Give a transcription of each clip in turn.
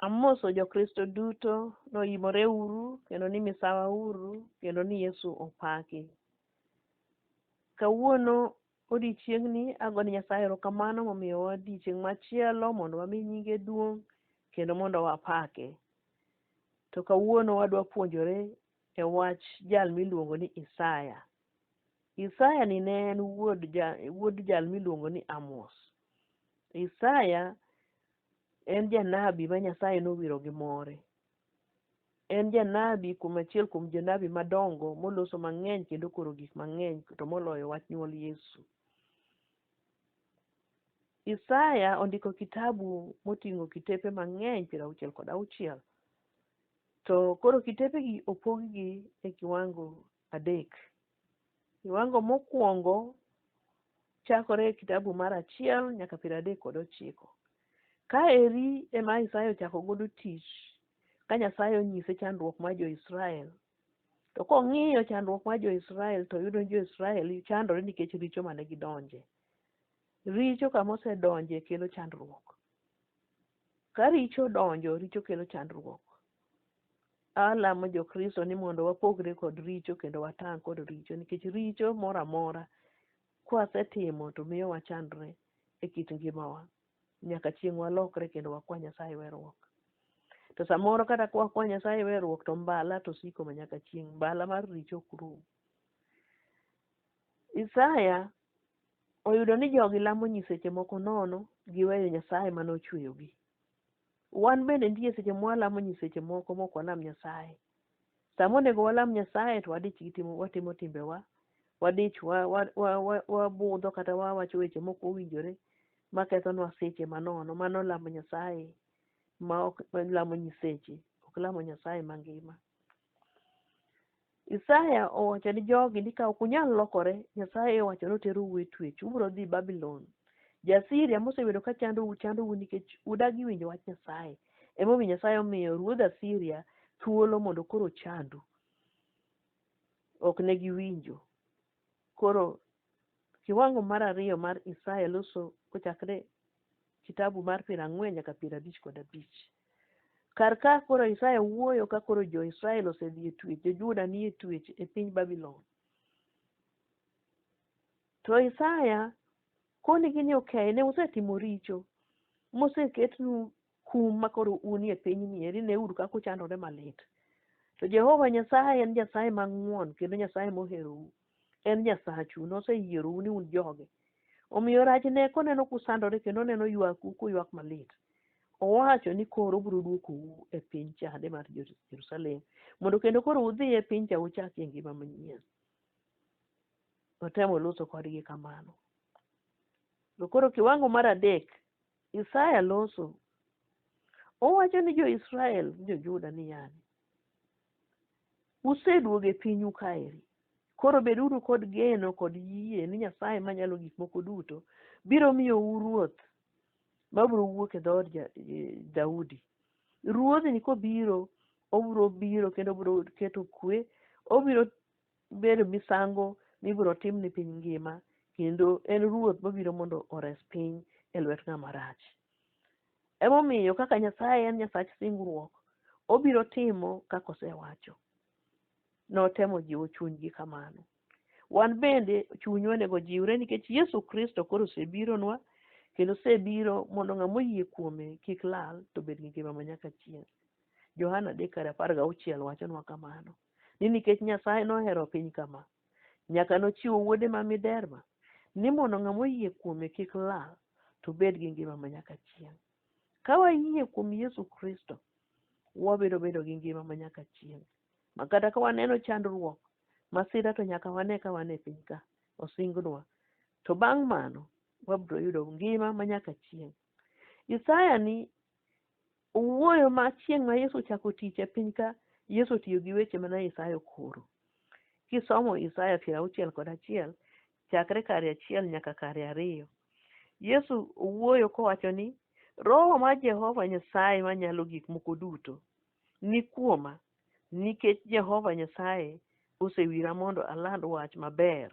Amoso Jokristo duto noyimore uru kendo ni misawa uru kendo ni Yesu opaki. Kawuono odiechieng'ni ago ni Nyasaye erokamano momiyo odiechieng' machielo mondo wami nyinge duong' kendo mondo wapake. To kawuono wadwa puonjore e wach jal miluongo ni Isaya. Isaya ni ne en wuod jal miluongo ni Amos. Isaya en janabi ma Nyasaye nowiro gi more. En janabi kuom achiel kuom jonabi madongo moloso mang'eny kendo koro gik mang'eny to moloyo wach nyuol Yesu. Isaya ondiko kitabu moting'o kitepe mang'eny piero auchiel kod auchiel. To koro kitepegi opoggi e kiwango adek. Kiwango mokwongo chakore e kitabu mar achiel nyaka piero adek kod ochiko. Ka eri ema Isaya ochako godo tich ka Nyasaye onyise chandruok mar jo-Israel. To kong'iyo chandruok mar jo-Israel to yudo ni jo-Israel chandore nikech richo mane gidonje. Richo kama osedonje kelo chandruok. Ka richo donjo, richo kelo chandruok. alamo jokristo ni mondo wapogre kod richo kendo watang' kod richo nikech richo moro amora kwasetimo to miyo wachandre e kit ngimawa nyaka chieng' walokre kendo wakwa nyasaye werruok to samoro kata ka wakwa nyasaye werruok to mbala to siko ma nyaka chieng' mbala mar richo ok rum isaya oyudo ni jogi lamo nyiseche moko nono giweyo nyasaye mane ochweyogi Wan bende nitie seche mwalamo nyiseche moko mok walam Nyasaye. Sama onego walam Nyasaye to wadich gi timo watimo timbewa, wadich wa, wa, wa, wa, wabudho kata wawacho weche mok owinjore makethonwa seche manono. Mano lamo Nyasaye ma ok lamo nyiseche, ok lamo Nyasaye mangima. Isaya owacho ni jogi ni ka ok unyal lokore, Nyasaye owacho ni oterou e twech, ubiro dhi Babulon. Ja-Siria mosebedo ka chandou, chandou nikech udagi winjo wach Nyasaye. Emomiyo Nyasaye omiyo ruodh Asiria thuolo mondo koro ochandu. Ok ne giwinjo. Koro kiwango mar ariyo mar Isaya loso kochakre kitabu mar piero ang'wen nyaka piero abich kod abich. Kar ka koro Isaya wuoyo ka koro jo-Israel osedhi e twech, jo-Juda ni e twech e piny Babylon. To Isaya konigi ni okay, ne usetimo richo, moseketnu kum ma koro unie pinyni eri neuru kaka uchandore malit. To Jehova Nyasaye en Nyasaye mang'won kendo Nyasaye moherou. En Nyasachu, noseyierou ni un joge. Omiyo rach ne koneno kusandore kendo oneno ywaku kuywak malit. Owacho ni koro obiro dwokou e piny chande mar Jerusalem mondo kendo koro udhi e piny cha uchakie ngima manyien. Notemo loso kodgi kamano. To koro kiwango mar adek Isaya loso. Owacho ni jo-Israel gi jo-Juda niya, Useduogo e pinyu kaeri. Koro beduru kod geno kod yie ni Nyasaye Manyalo Gik Moko Duto biro miyou ruoth ma biro wuok e dhood Ja- eh, Daudi. Ruodhni kobiro, obiro biro kendo obiro keto kwe, obiro Obedo misango mibiro tim ni piny ngima, kendo en ruoth mabiro mondo ores piny e lwet ng'ama rach. Emomiyo kaka Nyasaye en Nyasach singruok, obiro timo kaka osewacho. Notemo jiwo chunygi kamano. Wan bende chuny onego jiwre nikech Yesu Kristo koro osebironwa kendo osebiro mondo ng'ama oyie kuome kik lal to bed gi ngima ma nyaka chieng'. Johana 3:16 wachonwa kamano. ni nikech Nyasaye nohero piny kama, nyaka nochiwo wuode ma miderma, ni mondo ng'ama oyie kuome kik lal, to bed gi ngima ma nyaka chieng'. Ka wayie kuom Yesu Kristo, wabiro bedo gi ngima ma nyaka chieng'. Ma kata ka waneno chandruok, masira to nyaka wane ka wan e piny ka, osingnwa. To bang' mano, wabiro yudo ngima ma nyaka chieng'. Isaya ni Owuoyo ma chieng' ma Yesu ochako tich e piny ka, Yesu otiyo gi weche mana Isaya okoro. Kisomo Isaya piero auchiel kod achiel, chakre kare achiel nyaka kare ariyo, Yesu owuoyo kowacho ni, Roho mar Jehova Nyasaye Manyalo Gik Moko Duto ni kuoma, nikech Jehova Nyasaye osewira mondo aland wach maber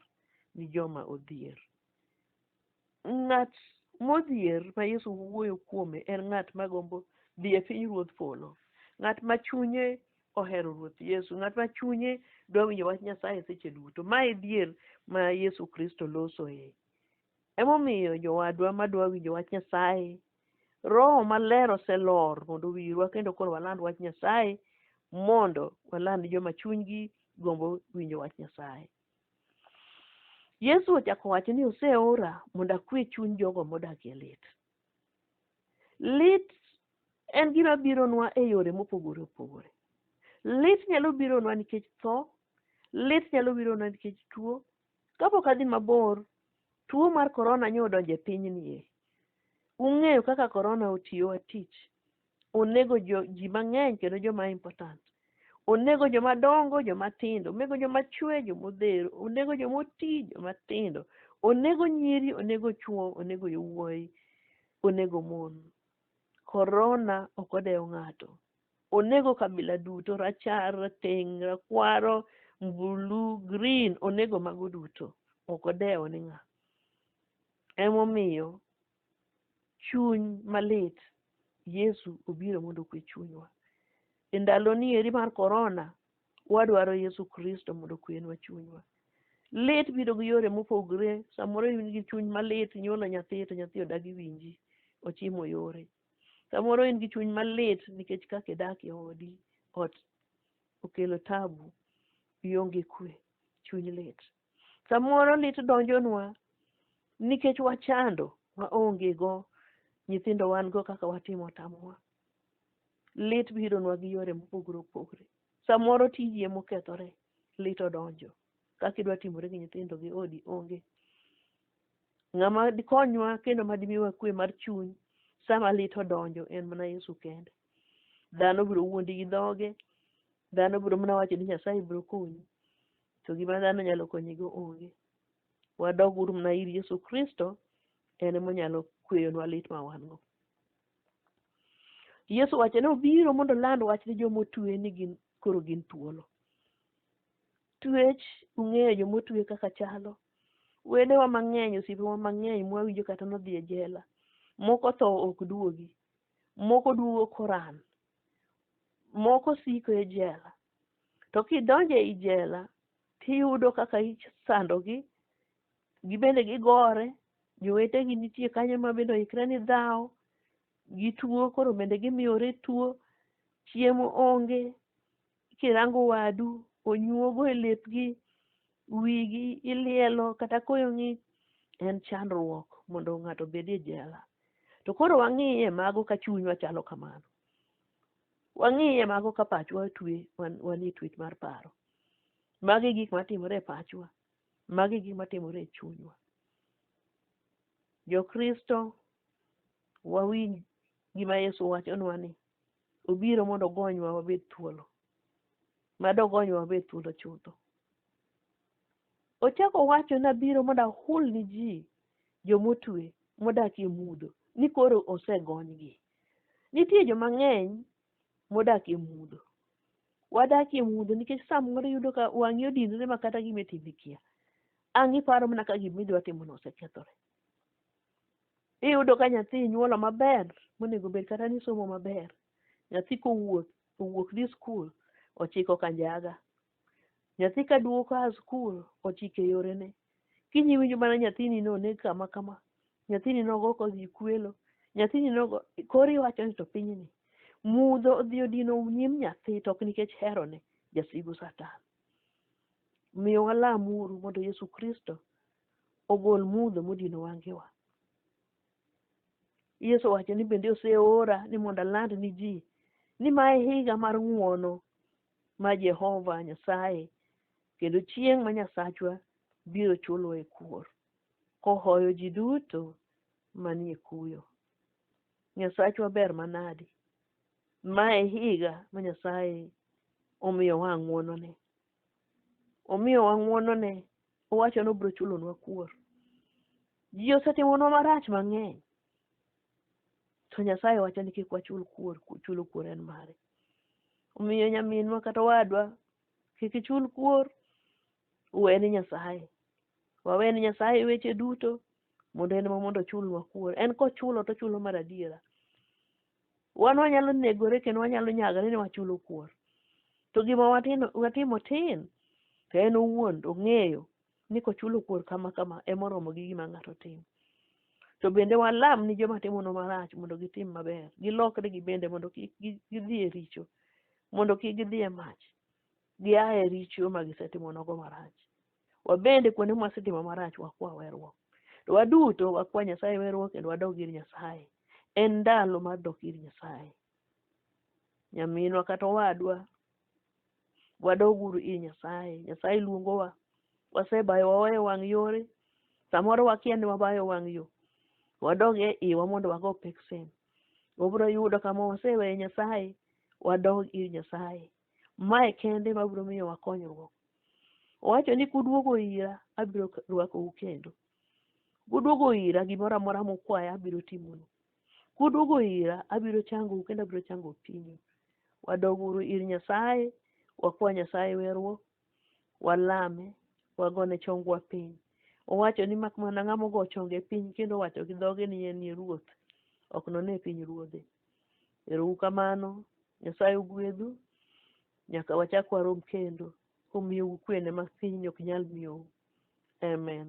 ni joma odhier. Ng'at modhier ma Yesu wuoyo kuome en ng'at ma gombo dhi e piny Ruodh polo. Ng'at ma chunye ohero Ruoth Yesu, ng'at ma chunye dwa winjo wach Nyasaye seche duto. Ma e dhier ma Yesu Kristo losoe. Emomiyo jowadwa ma dwa winjo wach Nyasaye, Roho maler oselor mondo owirwa kendo koro waland wach Nyasaye mondo waland joma chunygi gombo winjo wach Nyasaye. Yesu ochako wacho ni oseora mondo akwe chuny jogo modak e lit. Lit en gima bironwa e yore mopogore opogore. Lit nyalo bironwa nikech tho, lit nyalo bironwa nikech tuo. Kapok adhi mabor, tuo mar korona nyo odonjo e pinyni e. Ung'eyo kaka korona otiyowa tich. onego jo- ji mang'eny kendo joma important onego joma dongo joma tindo onego joma chwe joma odhero onego joma oti joma tindo onego nyiri onego chwo onego yowuoyi onego mon korona ok odewo ng'ato onego kabila duto rachar rateng' rakwaro mbulu green onego mago duto ok odewo ni ng'a emomiyo chuny malit yesu obiro mondo okwe chunywa e ndaloni eri mar korona wadwaro yesu kristo mondo okwenwa chunywa lit biro gi yore mopogre samoro in gi chuny malit inyuolo nyathi to nyathi odagi winji ochimo yore samoro in gi chuny malit nikech kaka idak e odi ot okelo tabu ionge kwe chuny lit Samoro lit donjonwa nikech wachando waonge go nyithindo wan go kaka watimo tamowa. Lit bironwa gi yore mopogore opogore. Samoro tiji emokethore, lit odonjo. Kaka idwa timore gi nyithindo gi odi onge. Ng'ama dikonywa kendo ma dimiwa kwe mar chuny sama lit odonjo en mana Yesu kende. Dhano biro wuondi gi dhoge, dhano biro mana wacho ni Nyasaye biro konyi. to gima dhano nyalo konyigo onge. Wadog uru mana ir Yesu Kristo, en ema onyalo kweyonwa lit ma wan go. Yesu wacho ni obiro mondo oland wach ni joma otue ni gin koro gin thuolo. Tuech ung'eyo joma otue kaka chalo. Wedewa mang'eny, osiepewa mang'eny mwawinjo kata nodhi e jela. Moko tho ok duogi. Moko duogo koran moko siko e jela to kidonjo e jela tiyudo kaka isandogi gibende gigore jowetegi nitie kanyo ma bende oikre ni dhawo gituo koro bende gimiyore tuo chiemo onge kirango wadu onyuogo e lepgi, wigi ilielo kata koyo ng'ich en chandruok mondo ng'ato obed e jela. To koro wang'iye mago ka chunywa chalo kamano. Wang'iye mago ka pachwa twe wan e twech mar paro. Magi gik matimore e pachwa. Magi gik matimore e chunywa. Jokristo wawinj gima Yesu wachonwa ni Obiro mondo ogonywa wabed thuolo. Mad ogonywa wabed thuolo chutho. Ochako wacho ni abiro mondo ahul ni ji jomotwe modak e mudho ni koro osegonygi. Nitie joma ng'eny modak e mudho. Wadak e mudho nikech samoro iyudo ka wang'i odinore ma kata gima itimo ikia. Ang' iparo mana ka gima idwa timono osekethore. Iyudo ka nyathi inyuolo maber monego bed kata ni somo maber. Nyathi kowuok owuok dhi skul ochiko kanjaga. Nyathi ka duogo ka skul ochike yorene. Kiny iwinjo mana nyathini noneg kama kama. Nyathini nogo kodhi kwelo. Nyathini nogo koro iwacho ni to pinyni mudho odhi odino nyim nyathi to ok nikech herone jasigu satan. Miyo walamuru mondo Yesu Kristo ogol mudho modino wangewa. Yesu owacho ni bende oseora ni mondo aland ni ji ni ma e higa mar ng'uono ma Jehova Nyasaye kendo chieng' ma Nyasachwa biro chuloe kuor kohoyo ji duto manie kuyo. Nyasachwa ber manadi. Ma e higa ma Nyasaye omiyowa ng'uonone. Omiyowa ng'uonone Owacho ni obiro chulonwa kuor. Ji osetimonwa marach mang'eny. To Nyasaye wacho ni kik wachul kuor, chulo kuor en mare. Omiyo nyaminwa kata owadwa, kik ichul kuor, uwe ni Nyasaye. Wawe ni Nyasaye weche duto mondo en ema mondo ochulnwa kuor. En kochulo to ochulo mar adiera. Wan wanyalo negore kendo wanyalo nyagore ni wachulo kuor. To gima watino, watimo tin, to en owuon ong'eyo ni kochulo kuor kama kama emoromo gi gima ng'ato timo. To bende walam ni joma timono marach mondo gitim maber, gilokre gibende mondo kik gi- gidhi e richo, mondo kik gidhi e mach, gia e richo ma gisetimonogo marach. Wabende kuonde ma wasetimo marach wakwa werruok. To waduto wakwa Nyasaye werruok kendo wadog ir Nyasaye. En ndalo mar dok ir Nyasaye. Nyaminwa kata owadwa, wadog uru ir Nyasaye. Nyasaye luongowa. Wasebayo waweyo wang' yore. Samoro wakia ni wabayo wang' yo. Wadog e iwa mondo wago peksen. Wabiro yudo kama waseweyo Nyasaye. Wadog ir Nyasaye. Mae kende ma biro miyo wakonyruok. Owacho ni kuduogo ira, abiro rwakou kendo. Kuduogo ira, gimoro amora mukwaya abiro timonu. Kuduogo ira, abiro changou kendo abiro chango pinyu. Wadoguru ir Nyasaye, wakwa Nyasaye werruok, walame, wagone chongwa piny. Owacho ni mak mana ng'ama ogo chonge piny kendo owacho gi dhoge ni en e ruoth, ok none piny ruodhe. Ero u kamano, Nyasaye ogwedhu, nyaka wachak warom kendo, komiyou kwene ma piny ok nyal miyou. Amen.